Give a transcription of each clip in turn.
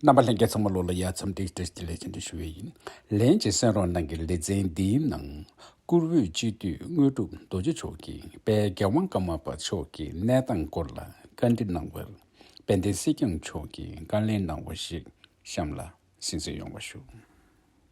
རྣམ་པ་ལྷན་རྒྱས་ཚང་མ་ལོ་ལ་ཡར་འཚམས་འདྲིའི་བཀྲ་ཤིས་ལེགས་སྐྱེས་འབུལ་ཞུ་བ་ཡིན། ལན་གཅིག་སེང་རོང་ནང་གི་ལེ་ཚན་འདིའི་ནང། བཀུར་འོས་སྤྱི་འཐུས་དངོས་གྲུབ་རྡོ་རྗེ་མཆོག་གིས་དཔལ་རྒྱལ་དབང་བཀའ་མ་པ་མཆོག་གི་གནས་སྟངས་སྐོར་ལ་བཀའ་འདྲི་གནང་བར། དཔལ་ལྡན་སྲིད་སྐྱོང་མཆོག་གིས་བཀའ་ལན་གནང་བ་ཞིག་གཤམ་ལ་གསན་བསོད་ཡོང་བ་ཞུ།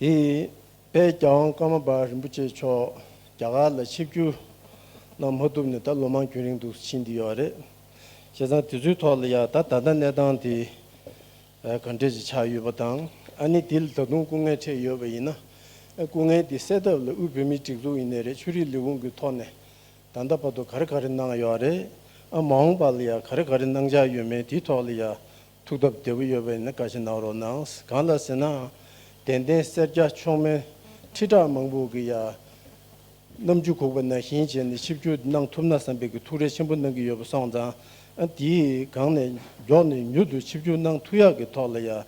དེ་བས་ཀྱང་བཀའ་མ་པ་རིན་པོ་ཆེ་མཆོག་རྒྱ་གར་ལ་ཆིབས་བསྒྱུར་གནང་མ་ཐུབ་ནས་ད་ལོ་མང་རྒྱུན་རིང་དུ་ཕྱིན་བསྡད་ཡོད་རེད། བྱས་ཙང་དེ་ཚོའི་ཐོག་ལ་ཡང་ད་ད་ལྟ་གནས་སྟངས་དེ་ག་འདྲས་ཅིག་ཆགས་ཡོད་པ་དང་ཨ་ནི་དེ་ལ་ད་དུང་སྐུ་ངལ་འཕྲད་ཡོད་པ་ཡིན་ན། སྐུ་ངལ་དེ་སེལ་ཐབས་ལ་དབུས་བོད་མིའི་སྒྲིག་འཛུགས་ཡིན་ནས་རེད་ཆོས་རིག་ལས་ཁུངས་ཀྱི་ཐོག་ནས་ད་ལྟ་བར་དུ་ག་རེ་ག་རེ་གནང་ཡོད་རེད་ཨ་མ་འོངས་པ་ལ་ཡང་ག་རེ་ག་རེ་གནང་འཆར་ཡོད་མེད་དེའི་ཐོག་ལ་ཡང་ཐུགས་སྟོབས་བདེ་པོ་ཡོད་པས་ནི་བཀའ་ཞིག་གནང་རོགས་གནང། གང་ལ་ཟེར་ནའང་དད་ལྡན་སེར་སྐྱ་མཆོག་དམན་ཁྲི་ཕྲག་མང་པོ་གི་ཡང་རྣམ་འགྱུར་ཁུག་པ་ནང་བཞིན་བྱས་ནས་ཆིབས་བསྒྱུར་གནང་ཐུབ་ན་བསམ་པའི་གི་ཐུགས་རེ་ཆེན་པོ་གནང་གི་ཡོད་པ་སོང་ཙང་དེའི་སྒང་ནས་མགྱོགས་ནས་མྱུར་དུ་ཆིབས་བསྒྱུར་གནང་ཐུབ་ཡག་གི་ཐོག་ལ་ཡང་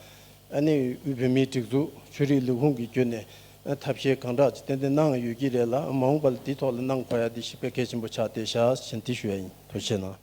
དབུས་བོད་མིའི་སྒྲིག་འཛུགས་ཆོས་རིག་ལས་ཁུངས་ཀྱི་བརྒྱུད་ནས་ཐབས་ཤེས་གང་དྲག་ཅིག་ཏན་ཏན་གནང་ཡོད་ཀྱི་རེད་ལ་མ་འོངས་པ་ལ་དེའི་ཐོག་ལ་གནང་དགོས་ཡག་དེ་ཞིབ་ཕྲ་གལ་ཆེན་པོ་ཆགས་ཏེ་ཞག་བཞིན་དེ་ཞུ་ཡག་ཡིན་དོ་ཆེ་ན།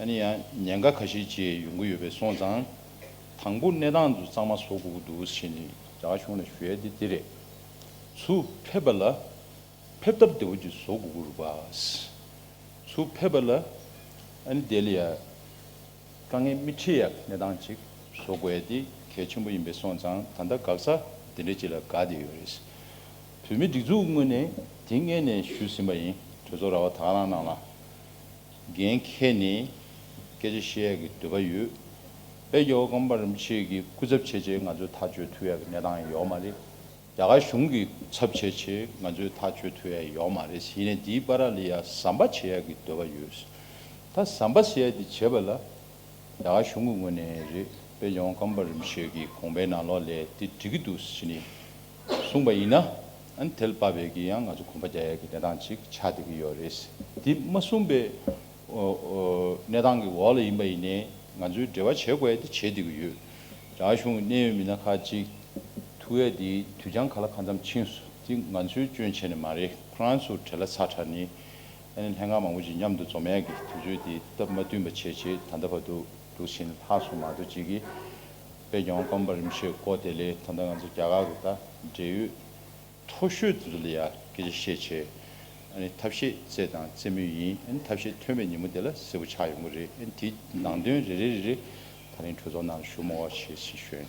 ཡང་ཉེན་ཁ་ཁ་ཤས་བཅས་ཡོང་གི་ཡོད་པས་སོང་ཙང། དང་པོ་གནས་སྟངས་འདུག་གཙང་མ་བཟོ་དགོས་ཀྱི་འདུག་ཟེར་ནས་རྒྱ་གར་གཞུང་ལ་ཞུ་ཡ་དེ་དེ་རེད། ཚུར་ཕེབས་པ་ལ་ཕེབས་ཐབས་བདེ་བོ་ཅིག་བཟོ་དགོས་ཀྱི་རུ་པ། ཚུར་ཕེབས་པ་ལ་བསྡད་ལ་ཡ། དཀའ་ངལ་མི་འཕྲད་ཡ་གནས་སྟངས་ཅིག་བཟོ་དགོས་ཡ་དེ་གལ་ཆེན་པོ་ཡིན་པས་སོང་ཙང་ད་ལྟ་འགག་ས་འདི་འདྲ་ཅིག་ལ་འགག་བསྡད་ཡོད་རེད། བོད་མི་སྒྲིག་འཛུགས་དངོས་ནས་དེ་མངལ་ནས་ཞུས་ཟིན་པ་ཡིན་གྲོས་ཚོགས་ར་བ་དྭགས་རང་ནང་ལ། འགན་ཁྱེད་ནི་སྐད་ཆ་བཤད་ཀྱི་འདོད་པ་ཡོད་པས་ཀྱི་ཨོ་རྐང་པ་རིམ་ཕྱེད་ཀྱི་སྐུ་ཚབ་བྱེད་ཆེད་ང་ཚོས་ཐག་གཅོད་ཐུབ་ཡ་གི་གནས་སྟངས་ཡོད་མ་རེད། རྒྱ་གར་གཞུང་གི་སྐུ་ཚབ་བྱེད་ཆེད་ང་ཚོས་ཐག་གཅོད་ཐུབ་ཡ་ཡོད་མ་རེད་ཡིན་ནས་འདིའི་པ་ར་ལི་ཡ་ཟམ་པ་བྱེད་ཡ་གི་འདོད་པ་ཡོད། ད་ཟམ་པ་ཟེར་ཡ་དེ་བྱེད་པ་ལ་རྒྱ་གར་གཞུང་གི་ངོས་ནས་རེད་པས་ཀྱི་ཨོ་རྐང་པ་རིམ་ཕྱེད་ཀྱི་གོང་པའི་ནང་ལོག་ལས་དེ་འགྲིག་གི་འདུག་ཟེར་ནས་གསུངས་པ་ཡིན་ན། ཨན་ཐེལ་དཔའ་བོད་ཀྱི་ཡང་ང་ཚོ་གོམ་པ་རྒྱག་ཡག་གི་གནས་སྟངས་ཅིག་ཆགས་བསྡད་ཀྱི་ཡོད་རེད། དེ་མ་གསུངས་པའི་གནས་སྟངས་ཀྱི་འོག་ལ་ཡིན་པ་ཡིན་ནའི་ང་ཚོའི་འབྲེལ་བ་བྱེད་དགོས་ཡ་དེ་བྱེད་བསྡད་ཀྱི་ཡོད། རྒྱ་གཞུང་གི་གནད་ཡོད་མི་སྣ་ཁག་ཅིག་ཐུ་ཡ་དེ་དུས་འགྱངས་ག་ལ་ག་འཚམས་ཕྱིན་སོ་དེ་ང་ཚོའི་སྐྱོན་བྱས་ནས་མ་རེད་ཁོ་རང་ཚོ་བྲེལ་ལ་ཚ་དྲགས་ནས་ཨ་ནེ་ལྷན་ཁང་མང་པོ་ཅིག་མཉམ་དུ་འཛོམས་ཡག་གི་དུས་ཚོད་དེ་སྟབས་མ་བསྟུན་པ་བྱས་བྱས་ད་ལྟ་བར་དུ་དུག་ཕྱིན་ལྷག་སོང་མ་གཏོགས་ཅི་གི། པད་སྐྱོང་ཀོང་པོ་རིམ་བཞིན་བསྐོ་དེ་ལས་ད་ལྟ་ང་ཚོ་རྒྱ་གར་གྱི་ད་འབྲེལ་ཡོད་མཐོ་ཤོས་དེ་ཚོ་ལ་ཡང་སྐད་ཆ་བཤད་ཆེད་ཐབས་ཤེས་བཙལ་དང་བཙལ་མུས་ཡིན་ཐབས་ཤེས་ཐོན་པའི་ཉིན་མོ་དེ་ལ་གསལ་བོ་ཆགས་ཡོང་གི་རེད་དེའི་ནང་དོན་རེ་རེ་རེ་རེ་ད་རིང་གྲོས་ཚོགས་ནང་ལ་ཞུ་མོ་བ་བྱེད་ཤེས་ཞོན།